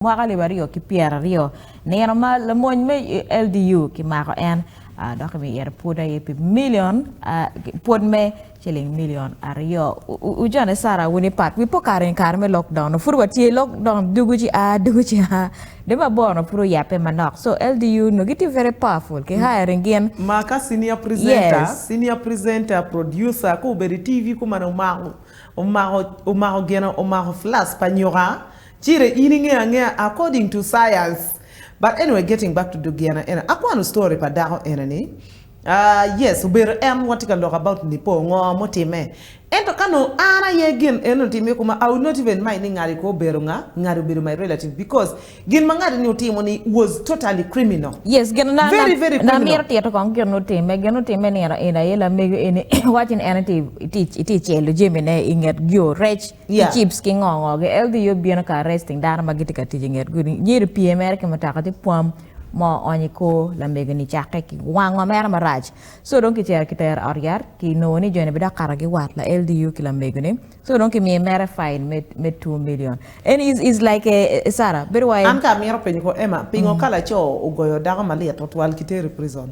mwaka alip aryo ki pyeraryo, nino ma lamony me LDU kimako en dok kimiyo yero pwod aye pi milion pwod me ciling milion aryo. Ujone Sarah wun ipat wi po kare ni kare me lok down pud watye i lok down dugu ci a dugu ci a de ma bor no pud oyape manok so LDU no gitye very powerful ki hiring gin Ma ka senior presenter, Yes. senior presenter, producer ka obedo i TV kumalo omako omako omako gin omako flask pa nyuka Cire in ingeyo angeya according to science but anyway getting back to Dugiana ena akwano story pa dako ena ni aah yes obedo en watye ka lok about Nipo ngo mutime ento ka nongo an aye gin eno otim iye koma I will not even mind ni ngati ko obedo nga ngati obedo my relative because gin ma ngati ni otimo ni was totally criminal Yes gin na very very na criminal. mito tito kong gin otime gin otime nino in aye lamego eni iwaco ni en itye itye celo jami ne inget yo rec ki chips ki ngo ngo gi LDU bino ka arresting dano ma gitye ka tic i nget gudi nyo ito pye mere ki mutoka ci pwam mo oony i kor lamego ni cake ki wango mere marac so dong kicito ki tere ot yat ki nongo ni joni bidok kato gi wat la LDU ki lamego ni so dong ki miyo mere fine me me two million en is is like a a Sarah bedo wai An ka amito penyo ko Emma pingo ka laco ogoyo dako malit otwal kiteri prison.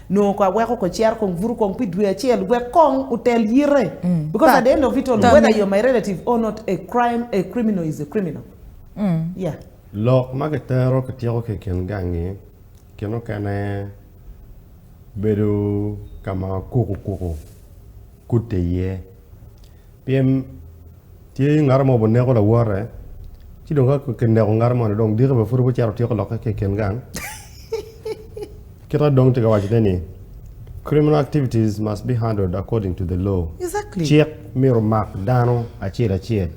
nongo kong aweko kong cito kong buto kong pi dwe acel wek kong otel yite because at the end of it all whether you're my relative or not a crime a criminal is a criminal yeah. Lok ma kitero kityeko ki i kin gangi kin okene bedo ka ma kuku kuku kutte iye. Pien tye ngat mo buneko lawote, ci dong ka kineko ngat moni dong diki bene pud wucito wutyeko lokke ki i kin gang. Kite dong tye ka wacone ni criminal activities must be handled according to the law. Exactly. Cik myero omak dano acel acel.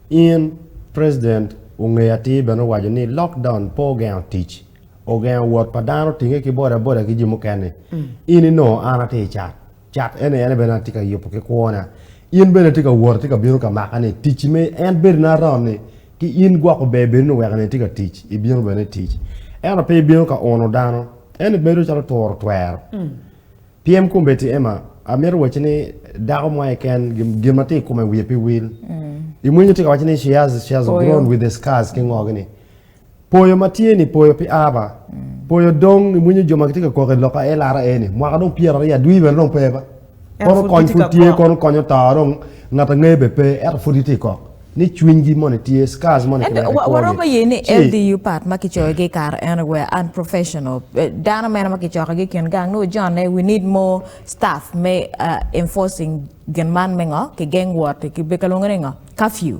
In president ongeyo atir bene owaco ni lockdown pe ogengo tic, ogengo wot pa dano tinge ki bodaboda ki jo mukene. In inongo an atye i cat. Cak en aye bene atye ka yubo ki kwona. In bene itye ka wot, itye ka bino ka makani. Ticci me en bedo ni aromo ni ki in gwoko ber bedo ni weko ni itye ka tic, ibino bene itic. Ento pe ibino ka uno dano. En ibedo calo turo twero. Pyem kombeddi Emma, amito wacci ni dako mo aye ken gin ma tye i kome wiye pe wil. Imwinyo tye ka waco ni she has, she has grown with the scars ki ngo gi ni. Poyo ma tye ni poyo pi aba poyo dong i winyo jo ma gitye ka koko i loka LRA ni mwaka dong pyera aryo adwi bene dong pe ba kono kony pud tye kono konyo to dong ngat angeyo be pe eto pud gitye kok ni cwiny gi moni tye scars moni kine ki kwogi waromo ye ni LDU part ma ki coyo gi kare eno were unprofessional dano mene ma ki coko gi kin gang nongo John ne we need more staff me enforcing gin man me ngo ki geng wot ki kalwongo ni ngo curfew.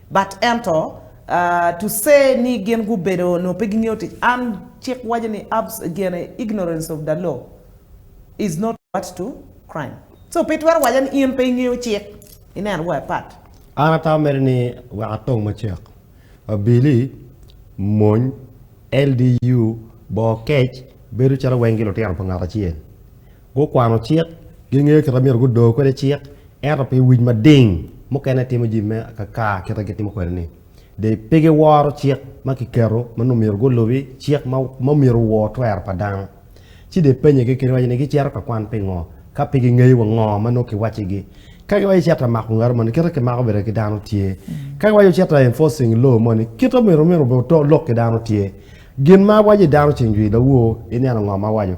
But ento, to say ni gin gubedo nio pe gingeyo tic, an cik waco ni abs gene ignorance of the law is not what to crime so pe itwero waco ni in pe ingeyo cik ineno wa ipat. An ata ameri ni wek atong macek abili mony LDU boo kec bedo calo weng gi lutino pa ngat acel. Gukwano cik, gingeyo kit ma myero gudo kwede cik, ento pi wic mading, mukene timo jami me akakar kit ma gitimo kwede-ni. De pe giworo cik ma kiketo ma nongo myero gulubi, cik ma omyero owor twero pa dano. Ci de penyegi kene waco ni gicito ka kwan pingo, ka pe gingeyo wa ngo ma nongo kiwaccigi. Ka giwaco cito ka mako ngat moni, kit ma kimako bene ki dano tye. Ka giwaco cito ka enforcing law moni, kit ma myero oto lok ki dano tye. Gin ma awaco i dano ceng jwi lawor, ineno ngo ma awaco?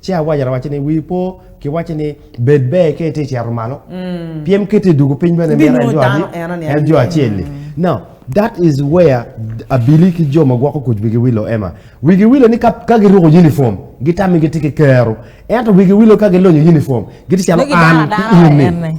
Ci awaco lawac-ci ni, 'Wii po, kiwacci ni, Bed ber ka itye cito malo, pien muketi i dwogo piny bene mito en jo adi? En jo acel-li. Now, that is where abili ki jo ma gwoko kuc wigi wilo ema. Wigi wilo ni ka, ka giruko unifom, gitami gitye ki kero. Ento wigi wilo ka gilonyo unifom, gitye calo an ki in-ni.